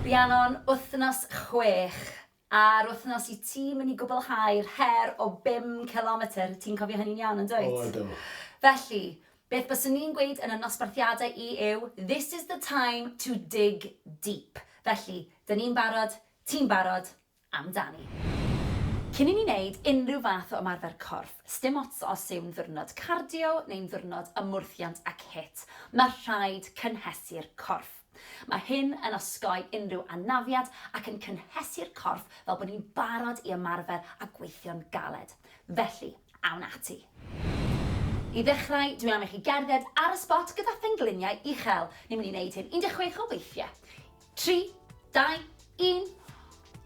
Rhiannon, Wythnos chwech. A'r wythnos i ti mynd i gwblhau'r her o bum cilometr, ti'n cofio hynny'n iawn yn dwyt? O ydw. Felly, beth byswn ni'n gweud yn y nosbarthiadau i yw, this is the time to dig deep. Felly, 'dyn ni'n barod, ti'n barod, amdani. Cyn i ni wneud unrhyw fath o ymarfer corff, sdim ots os yw'n ddiwrnod cardio neu'n ddiwrnod ymwrthiant ac HIIT, mae rhaid cynhesu'r corff. Mae hyn yn osgoi unrhyw anafiad ac yn cynhesu'r corff fel bod ni'n barod i ymarfer a gweithio'n galed. Felly, awn ati. I ddechrau, dwi'n am i chi gerdded ar y sbot gyda phengliniau uchel. Ni'n mynd i wneud hyn 16 o weithiau. Tri, dau, un,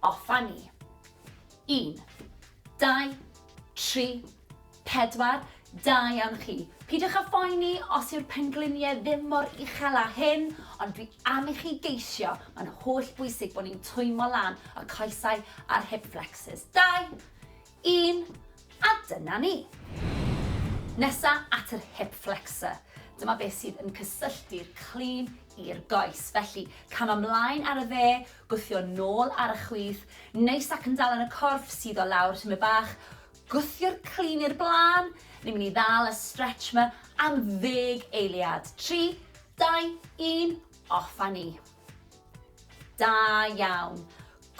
off a ni! Un, dau, tri, pedwar, da iawn chi! Peidiwch â phoeni os yw'r pengliniau ddim mor uchel â hyn, ond dwi am i chi geisio, mae'n holl bwysig bod ni'n twymo lan y coesau a'r hip flexors. Dau, 1 a dyna ni! Nesa at yr hip flexor. Dyma beth sydd yn cysylltu'r clean i'r goes. Felly, cam ymlaen ar y dde, gwthio nôl ar y chwith, neis ac yn dal yn y corff, sydd o lawr tymed bach, gwthio'r clean i'r blaen, ni'n mynd i ddal y stretch yma am ddeg eiliad. 3, 2, 1, off a ni. Da iawn.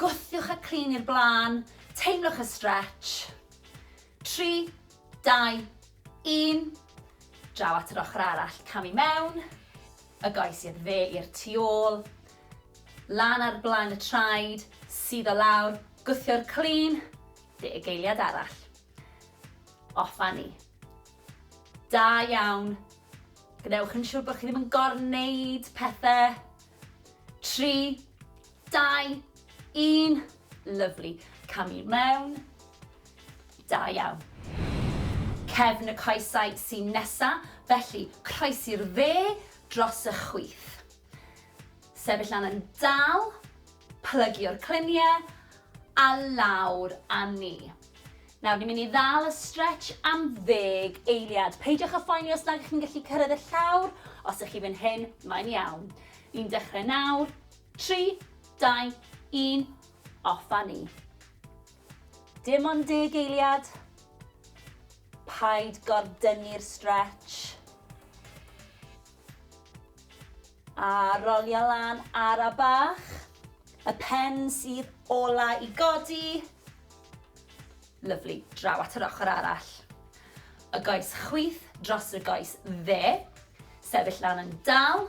Gwthiwch y crin i'r blaen, teimlwch y stretch. 3, 2, 1. Draw at yr ochr arall, cam i mewn. Y goes i'r dde i'r tu ôl. Lan ar blaen y traed, sydd o lawr, gwthio'r crin, deg geiliad arall. Off a ni. Da iawn. Gwnewch yn siŵr bod chi ddim yn gorneud pethau. 3, Dau, un, lyfli. Cam i mewn. Da iawn. Cefn y coesau sy'n nesa, felly croes i'r dde dros y chwith. Sefyll lan yn dal, plygio'r cluniau a lawr a ni. Nawr, ni'n mynd i ddal y stretch am ddeg eiliad. Peidiwch a phoeni os nad ydych chi'n gallu cyrraedd y llawr, os ydych chi fan hyn, mae'n iawn. Ni'n dechrau nawr, Tri, dau, un, off a ni. Dim ond deg eiliad. Paid gordynnu'r stretch. A rolio lan ar a bach. Y pen sydd ola i godi. Lyflu, draw at yr ochr arall. Y goes chwith dros y goes dde. Sefyll lan yn dal,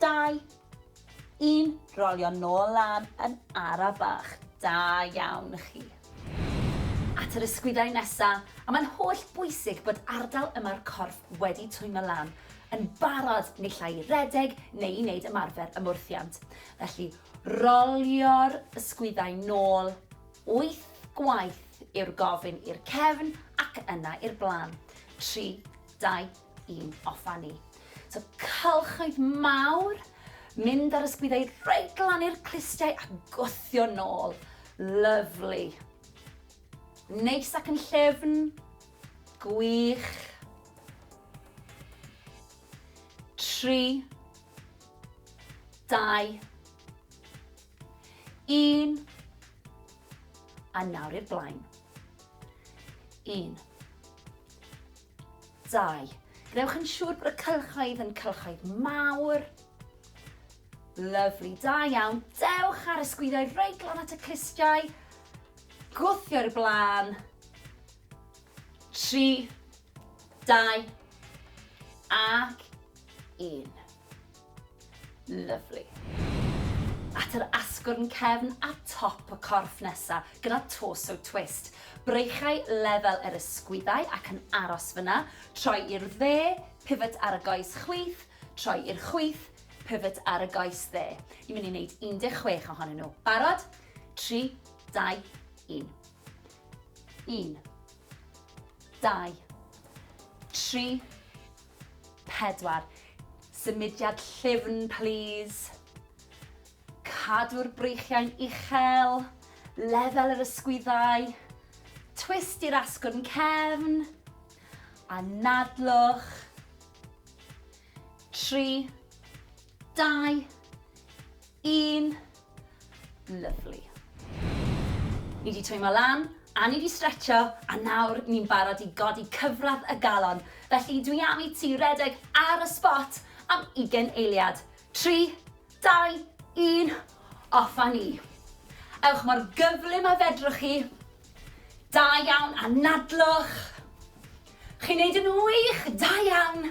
Dau. Un. Rolio nôl lan yn ara bach. Da iawn chi. At yr ysgwyddau nesa, a mae'n holl bwysig bod ardal yma'r corff wedi twymo lan, yn barod naill ai i redeg neu i wneud ymarfer ymwrthiant. Felly, rolio'r ysgwyddau nôl wyth gwaith yw'r gofyn i'r cefn ac yna i'r blaen. Tri, dau, i'n offa ni. So cylchoedd mawr, mynd ar ysgwyddau reit glan i'r clustiau a gwthio nôl. Lyflu. Neis ac yn llefn. Gwych. Tri. Dau. Un. A nawr i'r blaen. Un. 2. Gwnewch yn siŵr bod y cylchoedd yn cylchoedd mawr. Lyfli, da iawn. Dewch ar y sgwyddoedd reit glan at y clustiau. Gwthio i'r blaen. 3, 2, ac 1. Lyfli. At yr asgwrn cefn a top y corff nesa, gyda torso twist. Breichau lefel yr ysgwyddau ac yn aros fyna, troi i'r dde, pivot ar y goes chwith, troi i'r chwith, pivot ar y goes dde. Ni'n mynd i wneud 16 ohonyn nhw. Barod? 3, 2, 1. 1, 2, 3, 4. Symudiad llyfn plîs. Cadw'r breichiau'n uchel, lefel yr ysgwyddau, twist i'r asgwrn cefn, anadlwch. 3. Dau. Un. Lyfli. Ni wedi twymo lan, a ni wedi stretcho, a nawr ni'n barod i godi cyfradd y galon. Felly dwi am i ti redeg ar y spot am ugen eiliad. Tri, dau, un, off a ni. Ewch mor gyflym a fedrwch chi. Da iawn, anadlwch. Chi'n neud yn wych, da iawn.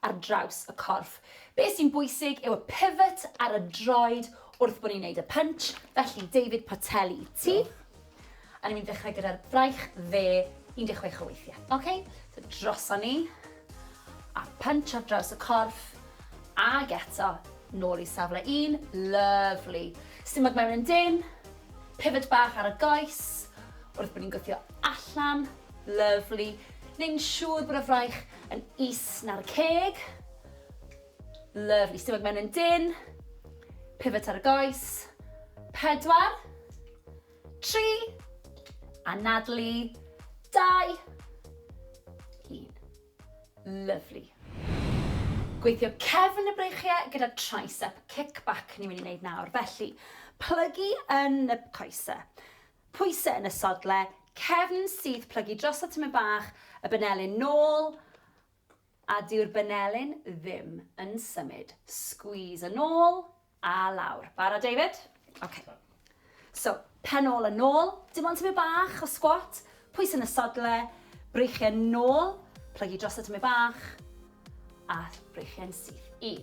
ar draws y corff. Be sy'n bwysig yw y pivot ar y droed wrth bod ni'n neud y punch, felly David Portelli i ti. Diolch. A ni'n mynd i ddechrau gyda'r braich dde 16 o weithiau. Ok, so droson ni, a punch ar draws y corff, ag eto, nôl i safle un, lyfli. Stumog mewn yn dynn, pivot bach ar y goes, wrth bod ni'n gwthio allan, lyfli. Neu'n siŵr bod y fraich yn is na'r ceg. Lyfli, stumog mewn yn dyn. Pivot ar y goes. Pedwar. Tri. Anadlu. Dau. Un. Lyfli. Gweithio cefn y breichiau gyda tricep kickback ni'n mynd i wneud nawr. Felly, plygu yn y coesau. Pwysau yn y sodle cefn sydd plygu drosodd tymed bach y benelyn nôl a dyw'r benelyn ddim yn symud. Squeeze yn ôl a lawr. Barod David? Ok. So, pen ôl a nôl, dim ond tymed bach o squat, pwysau yn y sodle, breichiau nôl, plygu drosodd tymed bach a breichiau'n syth. Un.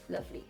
Lovely.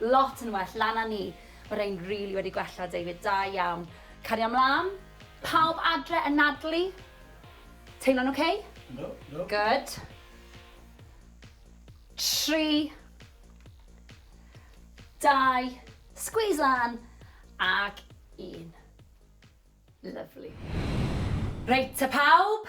Lot yn well lan a ni. Ma rhein rili wedi gwella David, da iawn. Cario mlan. Pawb adre yn nadlu? Teimlo'n ok? Yndw, yndw. Good. Tri. Dau. Squeeze lan. Ac un. Lyfli. Reit te pawb,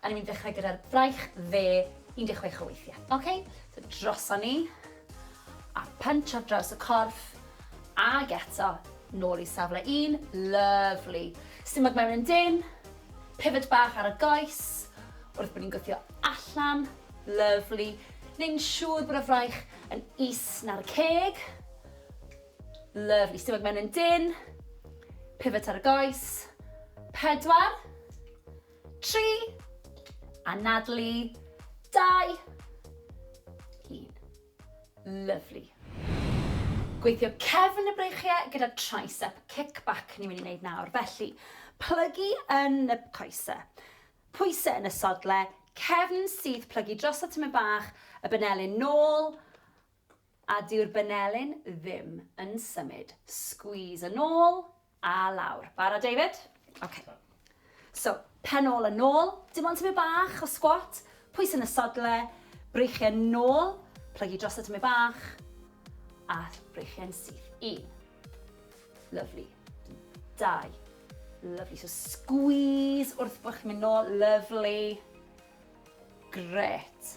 A ni'n mynd i ddechrau gyda'r braich dde, 16 o weithiau. Ok, so droson ni, a punch ar draws y corff, ag eto, nôl i safle un, lyfli. Stumog mewn yn dyn, pivot bach ar y goes, wrth bod ni'n gwthio allan, lyfli. Neu'n siŵr bod y fraich yn is na'r ceg. Lyfli, stumog mewn yn dyn, pivot ar y goes, pedwar, 3. Anadlu. 2. 1. Lyfli. Gweithio cefn y breichiau gyda tricep kickback ni'n mynd i wneud nawr. Felly, plygu yn y coesau, pwysau yn y sodle, cefn syth plygu dros y tyme bach, y benelin nôl, A dyw'r banelin ddim yn symud. Squeeze yn ôl a lawr. Barod David? Ok. So, pen ôl a nôl, dim ond tymed bach o squat, pwys yn y sodle, breichiau nôl, plygu drosodd tymed bach, a breichiau'n syth. Un. Lovely. Dau. Lovely. So squeeze wrth bod chi'n mynd nôl. Lovely. Gret.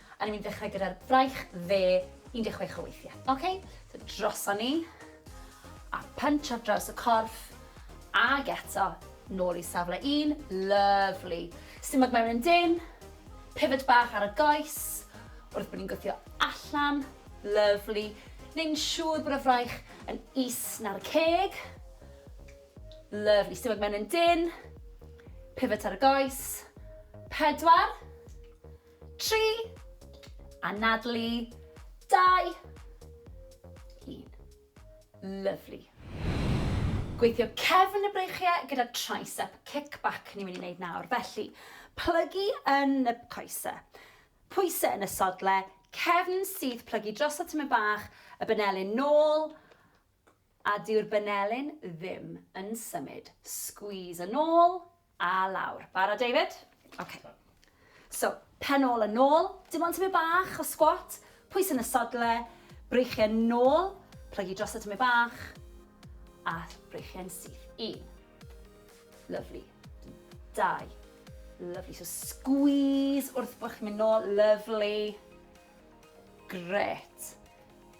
A ni'n mynd i ddechrau gyda'r braich dde, 16 o weithiau. OK, so droson ni, a punch ar draws y corff, ag eto, nôl i safle un, lovely. Stumog mewn yn dyn, pivot bach ar y goes, wrth bod ni'n gwthio allan, lovely. Neu'n siŵr bod y fraich yn is na'r ceg, lovely. Stumog mewn yn dyn, pivot ar y goes, pedwar, 3. Anadlu. 2. 1. Lyfli. Gweithio cefn y breichiau gyda tricep kickback ni'n mynd i wneud nawr. Felly, plygu yn y coesau, pwysau yn y sodle, cefn syth plygu dros y tyme bach, y benelin nôl, A dyw'r banelin ddim yn symud. Squeeze yn ôl a lawr. Barod David? Ok. So, pen ôl a nôl, dim ond tymed bach o squat, pwys yn y sodle, breichiau nôl, plygu dros y tymed bach, a breichiau'n syth. Un. Lovely. Dau. Lovely. So squeeze wrth bod chi'n mynd nôl. Lovely. Gret.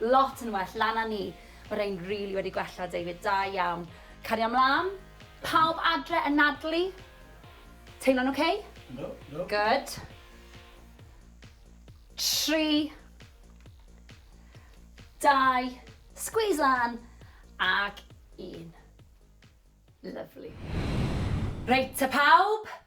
Lot yn well lan a ni. Ma rhein rili wedi gwella David, da iawn. Cario mlan. Pawb adre yn nadlu? Teimlo'n ok? Yndw, yndw. Good. Tri. Dau. Squeeze lan. Ac un. Lyfli. Reit te pawb,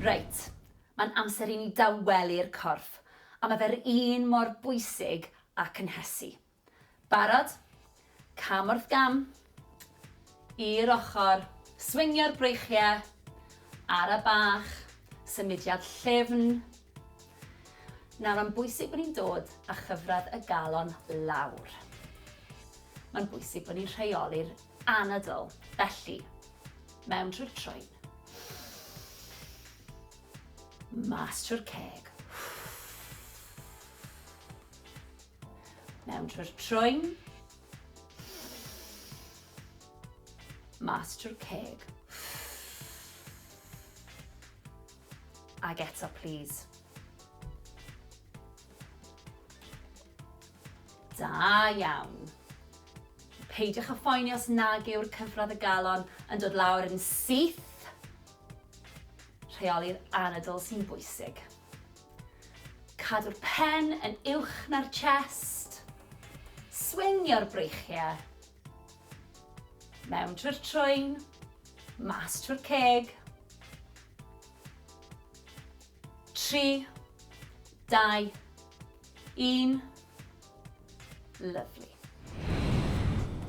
Reit, mae'n amser i ni dawelu'r corff, a mae fe'r un mor bwysig â cynhesu. Barod? Cam wrth gam. I'r ochr. Swingio'r breichiau. Ara bach. Symudiad llyfn. Nawr, mae'n bwysig bod ni'n dod â chyfradd y galon lawr. Mae'n bwysig bod ni'n rheoli'r Anadl, felly, mewn trwy'r troed. Mas trwy'r ceg. Mewn trwy'r troed. Mas trwy'r ceg. Ag eto, please. Da iawn. Peidiwch â phoeni os nag yw'r cyfradd y galon yn dod lawr yn syth. Rheoli'r anadl sy'n bwysig. Cadw'r pen yn uwch na'r chest. Swingio'r breichiau. Mewn trwy'r trwyn, mas trwy'r ceg. 3, 2, Un. Lyfli.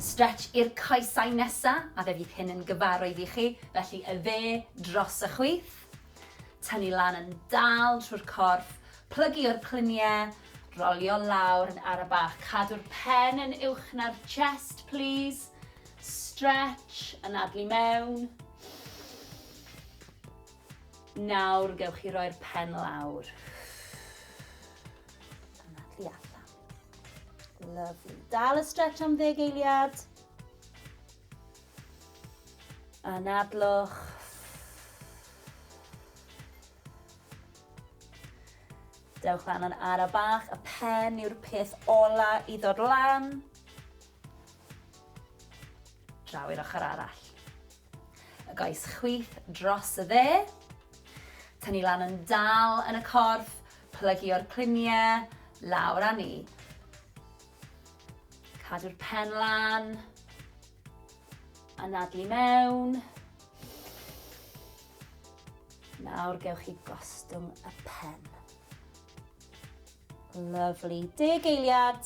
Stretch i'r coesau nesa, a fe fydd hyn yn gyfarwydd i chi, felly y dde dros y chwith. Tynnu lan yn dal trwy'r corff, plygu o'r cluniau, rolio lawr yn ara bach. Cadw'r pen yn uwch na'r chest, plîs. Stretch, anadlu mewn. Nawr gewch chi roi'r pen lawr. Yna, tu allan. Lovely. Dal y stretch am ddeg eiliad. Anadlwch. Dewch lan yn ara bach, y pen yw'r peth ola i ddod lan. Draw i'r ochr arall. Y goes chwith dros y dde. Tynnu lan yn dal yn y corff, plygu o'r cliniau, lawr a ni. Cadw'r pen lan. Anadlu mewn. Nawr gewch chi gostwng y pen. Lyfli. Deg eiliad.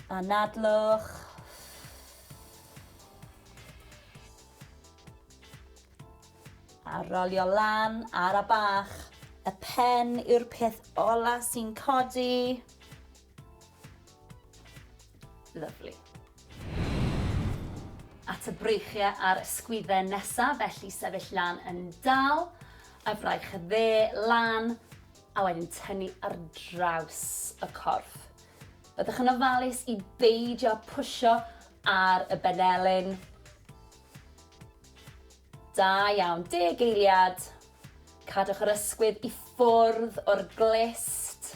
Anadlwch. A rolio lan ar a bach. Y pen yw'r peth ola sy'n codi. Lyfli. At y breichiau a'r ysgwydden nesaf, felly sefyll lan yn dal, y fraich dde lan, a wedyn tynnu ar draws y corff. Byddwch yn ofalus i beidio pwysio ar y benelin. Da iawn, deg eiliad. Cadwch yr ysgwydd i ffwrdd o'r glist.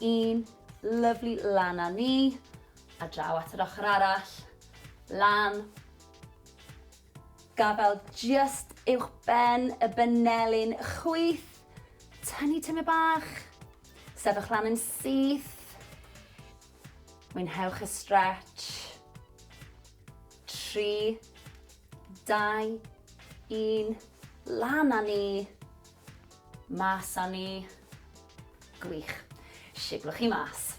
Un, lyfli, lan a ni, a draw at yr ochr arall, lan, gafel just uwch ben y benelin, chwyth, tynnu tyme bach, sefyll lan yn syth, mwynhewch y stretch, tri, dau, un, lan a ni, Mas a ni. Gwych. Siglwch chi mas.